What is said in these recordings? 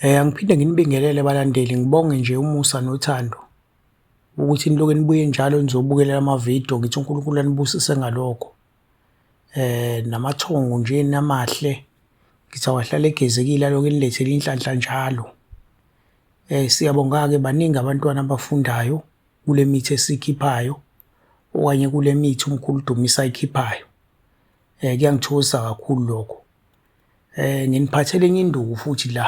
Eh angiphinde nginibingelele balandeli ngibonge nje umusa nothando ukuthi niloke nibuye njalo nizobukelela amavidiyo ngithi uNkulunkulu anibusise ngalokho eh namathongo nje namahle ngithi awahlale egezekile aloke nilethele inhlanhla njalo eh siyabonga ke baningi abantwana abafundayo kule mithi esikhiphayo okanye kule mithi umkhulu Dumisa ayikhiphayo eh kuyangithokozisa kakhulu lokho Eh nginiphathele enye induku futhi la.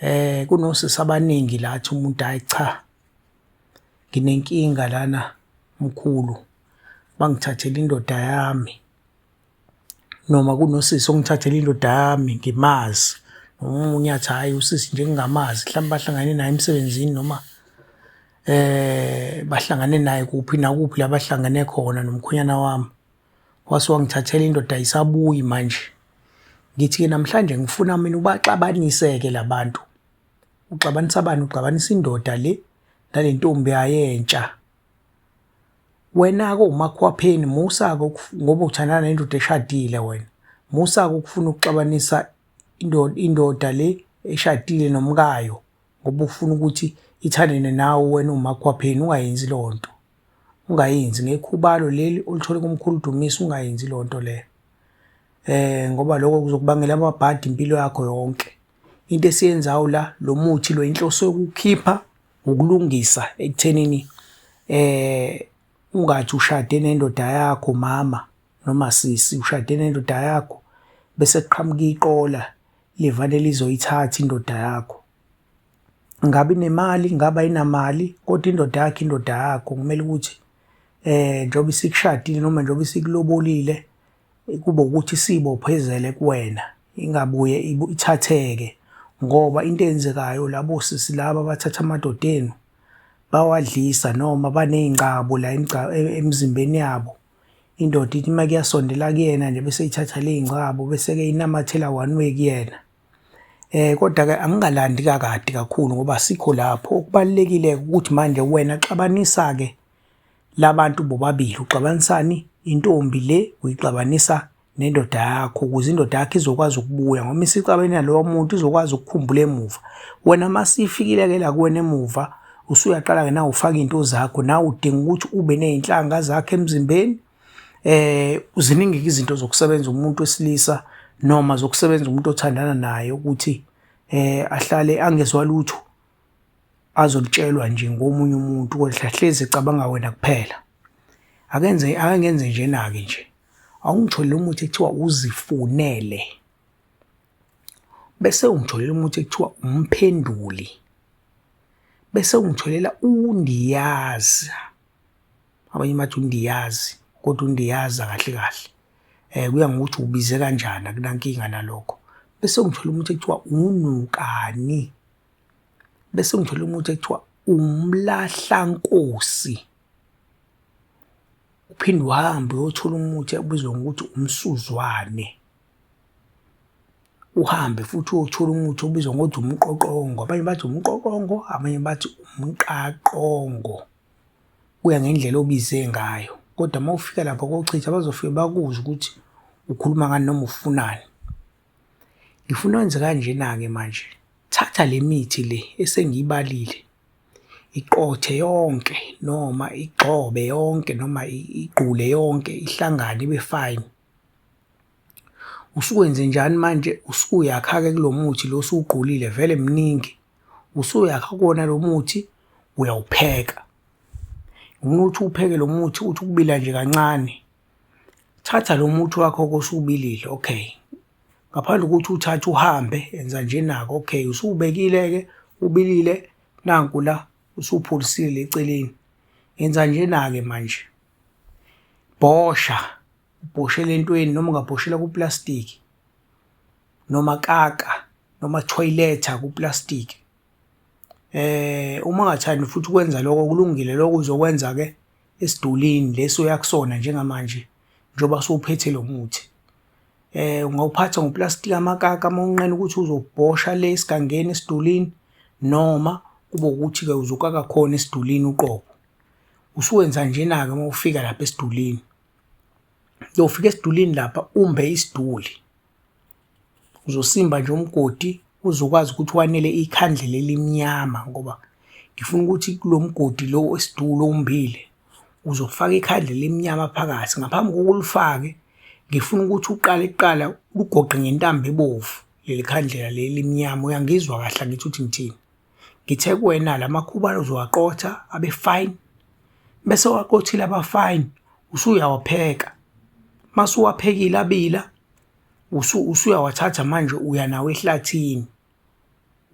Eh kunosisi abaningi la athi umuntu hayi cha. Nginenkinga lana mkhulu. Bangithathela indoda yami. Noma kunosisi ongithathela indoda yami ngimazi. Omunye athi hayi usisi nje ngingamazi mhlawumbe bahlangane naye emsebenzini noma eh bahlangane naye kuphi nakuphi la bahlangane khona nomkhonyana wami. wase wangithathela indoda ayisabuyi manje ngithi-ke namhlanje ngifuna mina ubaxabanise-ke la bantu uxabanisa bani uxabanisa indoda le nale ntombi yayentsha wena-ke umakhwapheni musa-ke ngoba uthandana nendoda eshadile wena musa-ke ukufuna ukuxabanisa indoda le eshadile nomkayo ngoba ufuna ukuthi ithandene nawe wena umakhwapheni ungayenzi loo nto ungayenzi ngekhubalo leli olithole kumkhulu Dumisa ungayenzi leyo nto leyo eh ngoba lokho kuzokubangela amabhadi impilo yakho yonke into esiyenzayo la lo muthi lo inhloso yokukhipha ngokulungisa ekuthenini eh ungathi ushade nendoda yakho mama noma sisi ushade nendoda yakho bese kuqhamuka iqola levane lizoyithatha indoda yakho ngabe inemali ngabe ayinamali kodwa indoda yakhe indoda yakho kumele ukuthi eh njengoba isikushadile noma njengoba isikulobolile kube ukuthi isibophezele kuwena ingabuye ithatheke ngoba into eyenzekayo labo sisi laba bathatha amadoda enu bawadlisa noma baney'ngcabo la e-, emzimbeni yabo indoda ithi uma kuyasondela kuyena nje bese ithatha ley'ngcabo bese-ke inamathela one way kuyena Eh kodwa ke angingalandi kakade kakhulu ngoba sikho lapho okubalekile ukuthi manje wena xabanisa ke labantu bobabili uxabanisani intombi le uyixabanisa nendoda yakho ukuze indoda yakho izokwazi ukubuya ngoba isixabene nalowo muntu izokwazi ukukhumbula emuva wena masifikile ke la kuwena emuva usuyaqala ke nawe ufaka into zakho nawe udinga ukuthi ube nezinhlanga zakhe emzimbeni eh ziningi izinto zokusebenza umuntu wesilisa noma zokusebenza umuntu othandana naye ukuthi eh ahlale angezwa lutho azolitshelwa nje ngomunye umuntu kodwa hlezi ecabanga wena kuphela akenze akengenze nje nake nje awungitholele umuthi ekuthiwa uzifunele bese ungitholela umuthi ekuthiwa umphenduli bese ungitholela undiyaza abanye bathi undiyazi kodwa undiyaza kahle kahle eh kuya ngokuthi ubize kanjani akunankinga nalokho bese ngithola umuntu ekuthiwa unukani bese ngithola umuntu ekuthiwa umlahlankosi uphinde uhambe uyothola umuthi obizwa ngokuthi umsuzwane uhambe futhi uyothola umuthi obizwa ngokuthi umqoqongo abanye bathi umqoqongo abanye bathi umqaqongo kuya ngendlela obize ngayo kodwa uma ufika lapha kochitha bazofike bakuzwe ukuthi ukhuluma ngani noma ufunani ngifuna wenze kanjena-ke manje thatha le mithi le esengiyibalile iqothe yonke noma igxobe yonke noma igqule yonke ihlangane ibe fine Usukwenze njani manje usuyakha-ke kulo muthi lo osuwugqulile vele mningi usuyakha kuwona lo muthi uyawupheka ngifuna ukuthi upheke lo muthi uthi ukubila nje kancane thatha lo muthi wakho kosubilile okay ngaphandle kokuthi uthathe uhambe enza nje nako okay usuwubekile-ke ubilile nanku la usupholisile eceleni yenza nje na-ke manje. bhosha ubhoshele entweni noma ungabhoshela kuplastiki noma kaka noma toiletha kuplastiki eh uma ungathandi futhi ukwenza lokho kulungile lokho uzokwenza ke esidulini leso uyakusona njengamanje njengoba sowuphethe lo muthi eh ungawuphatha ngoplastiki amakaka uma unqena ukuthi uzobhosha le esigangeni esidulini noma kube ukuthi ke uzokaka khona esidulini uqobo Usuwenza njena-ke uma ufika lapha esidulini. Uyofika esidulini lapha umbe isiduli. Uzosimba nje umgodi uzokwazi ukuthi wanele ikhandlela elimnyama ngoba ngifuna ukuthi kulo mgodi lo wesiduli owumbile uzofaka ikhandlela elimnyama phakathi. Ngaphambi kokuba ulifake ngifuna ukuthi uqale kuqala ugoqe ngentambo ebovu leli khandlela leli elimnyama. Uyangizwa kahle angithi uthi ngithini? ngithe kuwena la makhubalo uzowaqotha abe fine bese waqothile aba fine usuyawapheka masuwaphekile abila usu usuyawathatha manje uya nawo ehlathini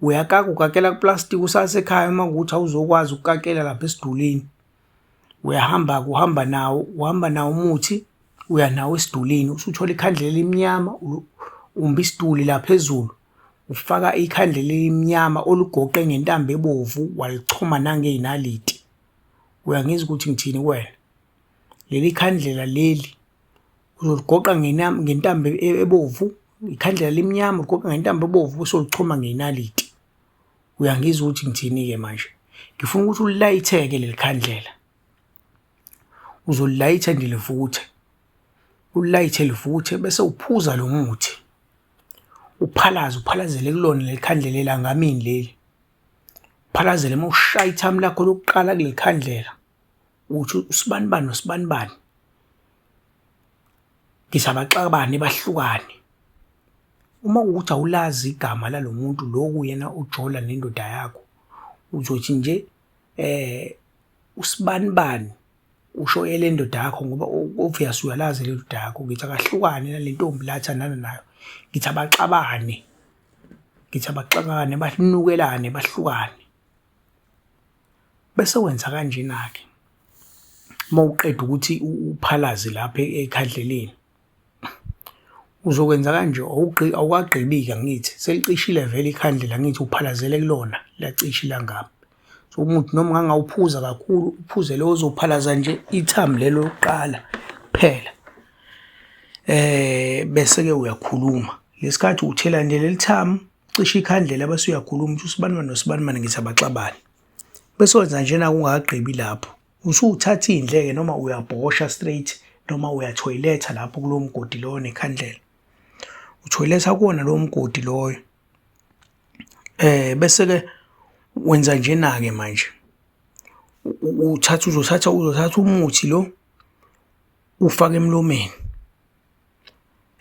uyakaka ukakela kuplastic usasekhaya uma ukuthi awuzokwazi ukukakela lapha esidulini uyahamba kuhamba nawo uhamba nawo umuthi uya nawo esidulini usuthola ikhandlela elimnyama umba isiduli la phezulu Ufaka ikhandlela elimnyama olugoqe ngentambo ebovu walichoma nangey'naliti. Uyangizwa ukuthi ngithini kuwena? Leli khandlela leli uzoligoqa ngentambo e-, ebovu, ikhandlela limnyama uligoqa ngentambo ebovu bese ulichoma ngey'naliti. Uyangizwa ukuthi ngithini-ke manje? Ngifuna ukuthi ulilayitheke leli khandlela. Uzolilayitha nje livuthe, ulilayithe livuthe bese uphuza lo muthi. uphalaze uphalazele kulona leli khandlela elangamini leli uphalazele uma ushaya ithamu lakho lokuqala kuleli khandlela uthi usibanibani nosibanibani ngisabaxabane bahlukane uma ukuthi awulazi igama lalo muntu loku yena ujola nendoda yakho uzothi nje eh usibanibani usho elendoda yakho ngoba obvious uyalazi lendoda yakho ngithi akahlukane nalentombi la athandana nayo ngithi abaxabane ngithi abaxabane banukelane bahlukane bese wenza kanjena-ke uma uqeda ukuthi uphalaze lapha ekhandleleni Uzokwenza kanje awukagqibi-ke angithi selicishile vele ikhandlela angithi uphalazele kulona liyacisha ilangami. So umuthi noma ungangawuphuza kakhulu uphuze lo ozophalaza nje ithambo lelo lokuqala kuphela. Bese-ke uyakhuluma ngesikhathi uthela nje leli thamu cisha ikhandlela bese uyakhuluma uthi usibanibani nosibanibani ngithi abaxabane. Bese wenza njena-ke ungakagqibi lapho. Usuthatha indleke noma uyabhosha straight noma uyathoyiletha lapho kulo mgodi loyo nekhandlela. Uthoyiletha kuwona lowo mgodi loyo. Eh bese ke wenza njena ke manje. Uthatha uzothatha uzothatha umuthi lo ufake emlomeni.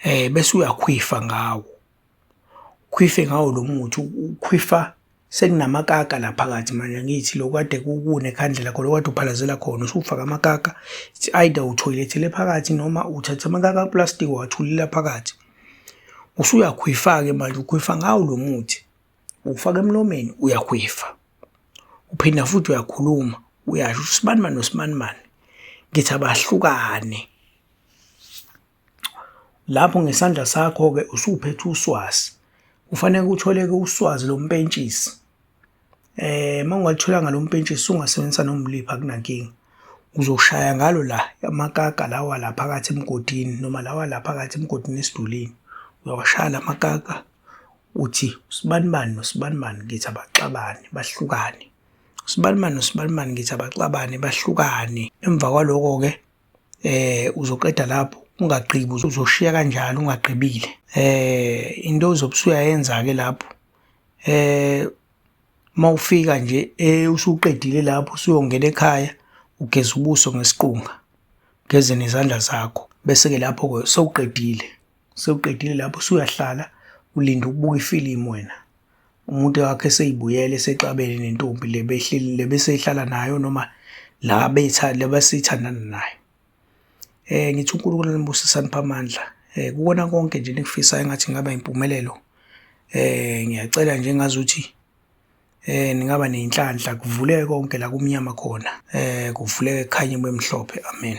Eh bese uyakhwifa ngawo. khwife ngawo lo muthi ukhwifa sekunamakaka la phakathi manje ngithi lokade kukune khandlela khona okade uphalazela khona usufaka amakaka it's either uthoyilethele phakathi noma uthatha amakaka plastic wathulela phakathi usuyakhwifa-ke manje ukhwifa ngawo lo muthi ufaka emlomeni uyakhwifa uphinda futhi uyakhuluma uyasho usibanimani nosibanimani ngithi abahlukane Lapho ngesandla sakho-ke usuphethe uswazi, kufaneke kutholeke uswazi lompentshisi. Eh uma ungalitholanga lo mpentshisi ungasebenzisa nomliphi akunankinga. Uzoshaya ngalo la amakaga lawa la phakathi emgodini noma lawa la phakathi emgodini esidulini. Uyawashaya la makaga uthi usibanibani nosibanibani ngithi abaxabane bahlukane. Usibanibani nosibanibani ngithi abaxabane bahlukane. Emva kwaloko-ke eh uzoqeda lapho ungagqibi uzoshiya kanjalo ungagqibile eh into ozobusuya yenza ke lapho eh mawufika nje eh usuqedile lapho usuyongena ekhaya ugeza ubuso ngesiqunga geze nezandla zakho bese ke lapho ke sewuqedile Sewuqedile lapho usuyahlala ulinde ukubuka ifilimu wena. Umuntu wakhe seyibuyele sexabene nentombi le behleli le besehlala nayo noma la betha le basithandana nayo. Eh ngithi uNkulunkulu anibusise aniphe amandla. Eh kukona konke nje nikufisa engathi ngaba impumelelo. Eh ngiyacela nje ngazuthi eh ningaba nenhlanhla kuvuleke konke la kumnyama khona. Eh kuvuleke khanye bemhlophe. Amen.